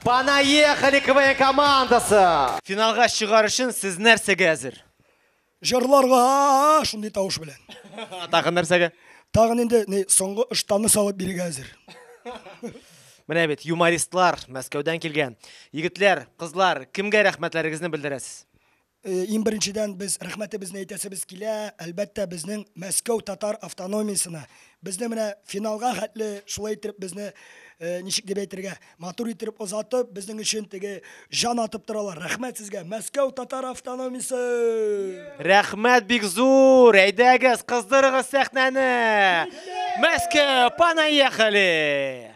Понаехали КВН командасы! Финалга чыгар өчен сез нәрсәгә әзер? Җырларга шундый тавыш белән. Тагын нәрсәгә? Тагын инде ни соңгы ыштаны салып бирергә әзер. Менә бит юмористлар Мәскәүдән килгән. Егетләр, кызлар, кемгә рәхмәтләрегезне белдерәсез? Иң беренчедән без рәхмәтебезне әйтәсебез килә, әлбәттә, безнең Мәскәү татар автономиясенә. Безне менә финалга хәтле шулай иттереп безне, ничек дип әйтергә, матур иттереп озатып, безнең өчен теге җан атып торалар. Рәхмәт сезгә, Мәскәү татар автономиясе! Рәхмәт бик зур! Әйдәгез, кыздырыгыз сәхнәне! Мәскәү, понаехали!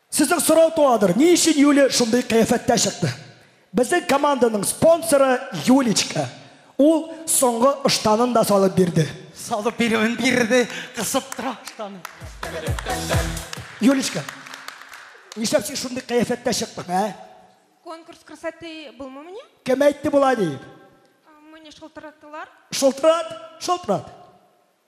Сезнең сорау туадыр, ни өчен Юля шундый кыяфәттә чыкты? Безнең команданың спонсоры Юлечка. Ул соңгы ыштанын да салып бирде. Салып бирүен бирде, кысып тора ыштанын. Юлечка, нишләп син шундый кыяфәттә чыктың, ә? Конкурс красоты булмыймыни? Кем әйтте болай диеп? Мине шылтыраттылар. Шылтырат, шылтырат.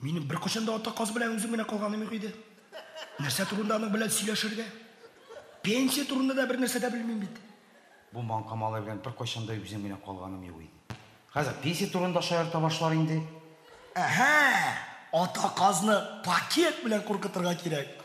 Минем беркайчан да ата каз белән үзем генә калганым юк иде. Нәрсә турында аның белән сөйләшергә? Пенсия турында да бер нәрсә дә белмим бит. Бу маңка малай белән беркайчан да үзем генә калганым юк иде. Хәзер пенсия турында шаярта башлар инде. Әһә, ата казны пакет белән куркытырга кирәк.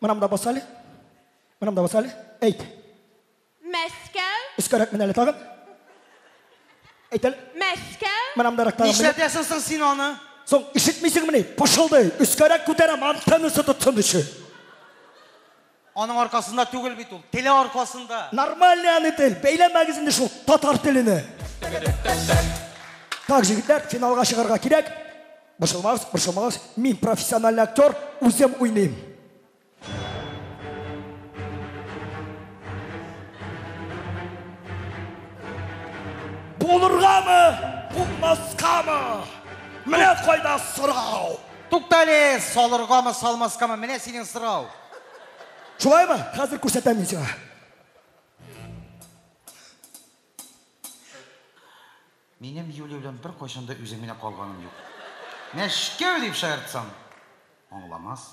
Мынам да баса әле. Мынам да баса әле. Әйт. Мәскәү. Өскәрәк менә әле тагын. Әйт әле. Мәскәү. Мынам да рәктагы. Нишләтәсең соң син аны? Соң ишетмисеңмени? Пышылдый. Өскәрәк күтәрәм, антеннасы тотсын өчен. Аның аркасында түгел бит ул. Теле аркасында. Нормальный аны тел. Бәйләмәгез инде шул татар телене. Так, җегетләр, финалга чыгарга кирәк. Борчылмагыз, борчылмагыз, мин профессиональный актер, үзем уйныйм. Булыргамы, булмаскамы? Менә кайда сорау. Туктале, салыргамы, салмаскамы? Менә синең сорау. Шулаймы? Хәзер күрсәтәм мин сиңа. Минем Юлия белән беркайчан да үзем генә калганым юк. Мәчкәү дип шаяртсам, аңламас.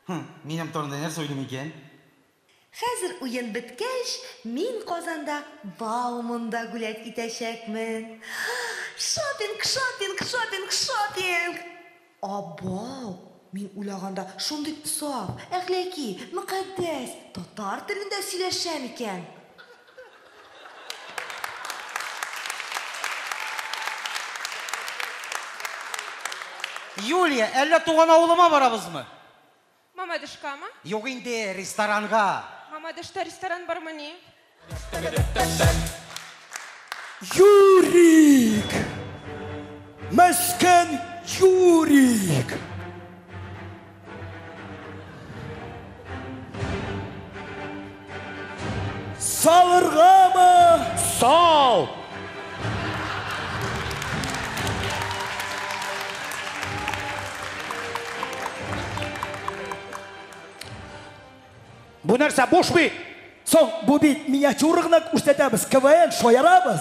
Һы, минем турында нәрсә уйлый микән? Хәзер уен беткәч, мин Казанда Бауманда гүләт итәчәкмен. Шопинг, шопинг, шопинг, шопинг! Абау! Мин уйлаганда шундый саф, әхләки, мөкатдәс татар телендә сөйләшә микән? Юлия, әллә туган авылыма барабызмы? Мамадышкамы? Юк инде, ресторанга. Мамадышта ресторан бармыни? Юрик! Мескен Юрик! Салыргамы? Сал! Бу нәрсә буш бит? Соң, бу бит миниатюра гына күрсәтәбез, КВН шаярабыз.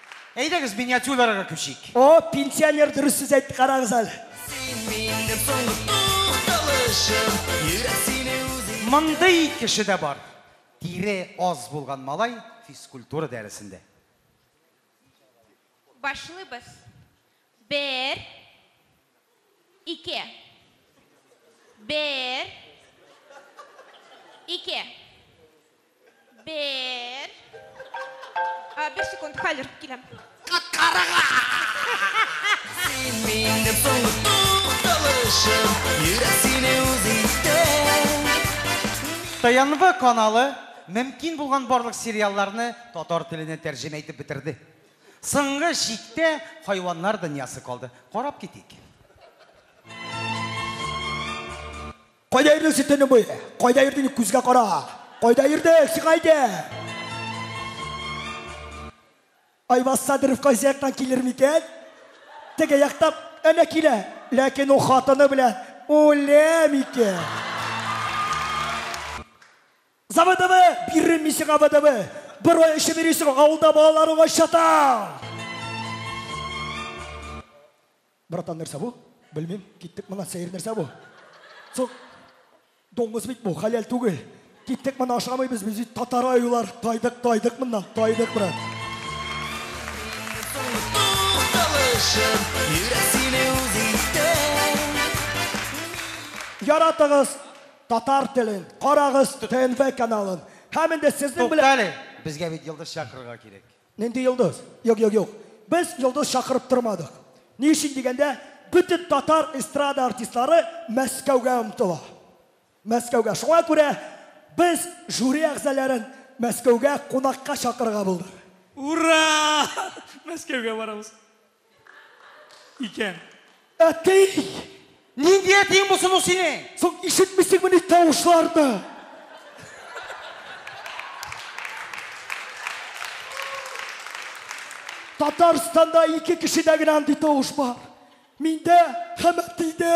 Әйдәгез миниатюраларга күчик. О, пенсионер дөрес сүз әйтте, карагыз әле. Син минем соңгы тукталышым, йөрәк сине үзе итә. Мондый кеше дә бар. Тире аз булган малай физкультура дәресендә. Башлыйбыз. Бер. Ике. Бер. Ике. Бер. А, бер секунд, хәзер киләм. Карага! Син минем соңгы тукталышым, йөрәк сине үз итә. ТНВ каналы мөмкин булган барлык сериалларны татар теленә тәрҗемә итеп бетерде. Соңгы чиктә хайваннар дөньясы калды. Карап китик. Кайда йөрдең син төне буе? Кайда йөрдең, күзгә кара. Кайда йөрдең, сиңа әйтәм. Айваз Садыров кайсы яктан килер микән? Теге яктан әнә килә. Ләкин ул хатыны белән үлә микән? Заводовы, биррем мин сиңа водовы. Бер ай эчеп йөрисең, авылда балалар уңай чатаң. Братан, нәрсә бу? Белмим, киттек моннан, сәер нәрсә бу? Соң, доңгыз бит бу, хәләл түгел. Киттек моннан, ашамыйбыз без, бит татар аюлар. Тайдык, тайдык моннан, тайдык, брат. Яратыгыз! Татар телен карагыз ТНВ каналын. Һәм инде сезнең белән Туктале, безгә бит йолдыз чакырырга кирәк. Нинди йолдыз? Юк, юк, юк. Без йолдыз чакырып тормадык. Ни өчен дигәндә, бөтен татар эстрада артистлары Мәскәүгә омтыла. Мәскәүгә. Шуңа күрә без жюри әгъзаләрен Мәскәүгә кунакка чакырырга булдык. Ура! Мәскәүгә барабыз. Икән. Әти! Нинди әтиең булсын ул синең? Соң ишетмисеңмени тавышларны? Татарстанда ике кешедә генә андый тавыш бар. Миндә һәм әтидә.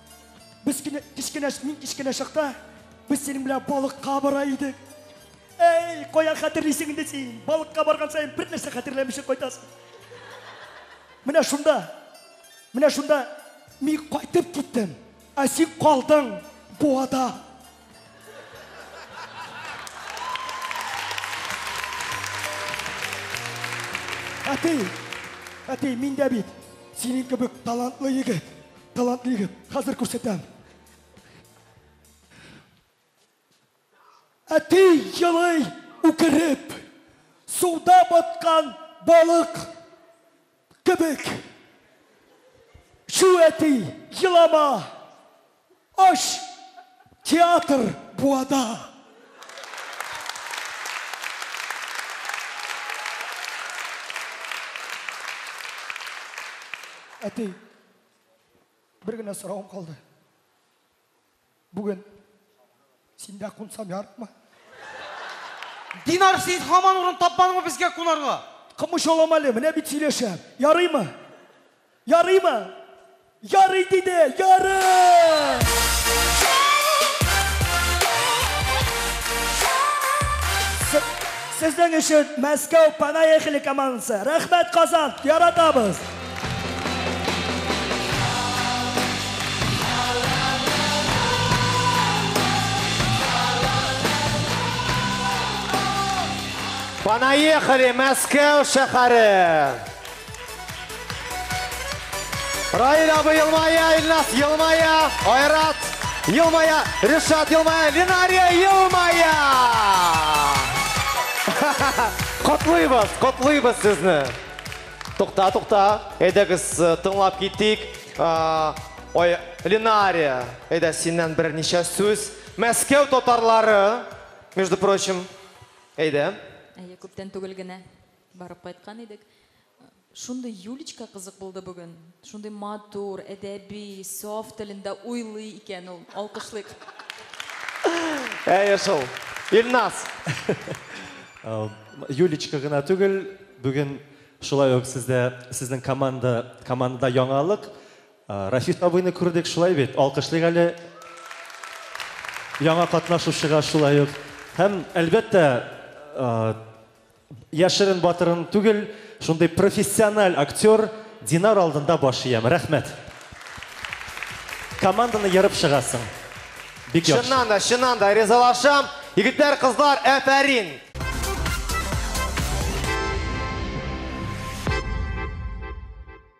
Без кенә кечкенә мин кечкенә чакта без синең белән балыкка бара идек. Әй, каян хәтерлисең инде син? Балыкка барган саен бер нәрсә хәтерләмичә кайтасың. Менә шунда. Менә шунда мин кайтып киттем. Ә син калдың буада. Әти, әти, мин дә бит синең кебек талантлы егет. Талантлы егет, хәзер күрсәтәм. Әти елый үкереп, суда баткан балык кебек. Шу әти, елама, аш театр буада. Әти, Бер генә сорауым калды. Бүген синдә кунсам ярмы? Динар, син хаман урын тапмадыңмы безгә кунарга? Кымыш алам әле, менә бит сөйләшәм. Ярыймы? Ярыймы? Ярый диде, ярый! Сезнең өчен Мәскәү Панаехали командасы. Рәхмәт, Казан! Яратабыз! Понаехали, Мәскәү шәһәре! Раил абы елмая, Илнас елмая, Айрат елмая, Ришат елмая, Линария елмая! Котлыйбыз, котлыйбыз сезне! Тукта, тукта, әйдәгез э, тыңлап китик. А, Ой, Ленария, әйдә синнән берничә сүз. Мәскәү татарлары, между прочим, әйдә. Әйе, күптән түгел генә барып кайткан идек. Шундый Юлечка кызык булды бүген. Шундый матур, әдәби, саф телендә уйлый икән ул. Алкышлыйк. Әйе шул. Илназ. Юлечка гына түгел, бүген шулай ук сездә, сезнең команда, командада яңалык. Рафис абыйны күрдек, шулай бит? Алкышлыйк әле. Яңа катнашучыга шулай ук. Һәм, әлбәттә, Яшерен батырын түгел, шундый профессиональ актер Динар алдында баш иям. Рәхмәт. Команданы ерып чыгасың. Бик яхшы. Чыннан да, чыннан да ризалашам. Егетләр, кызлар, әфәрин!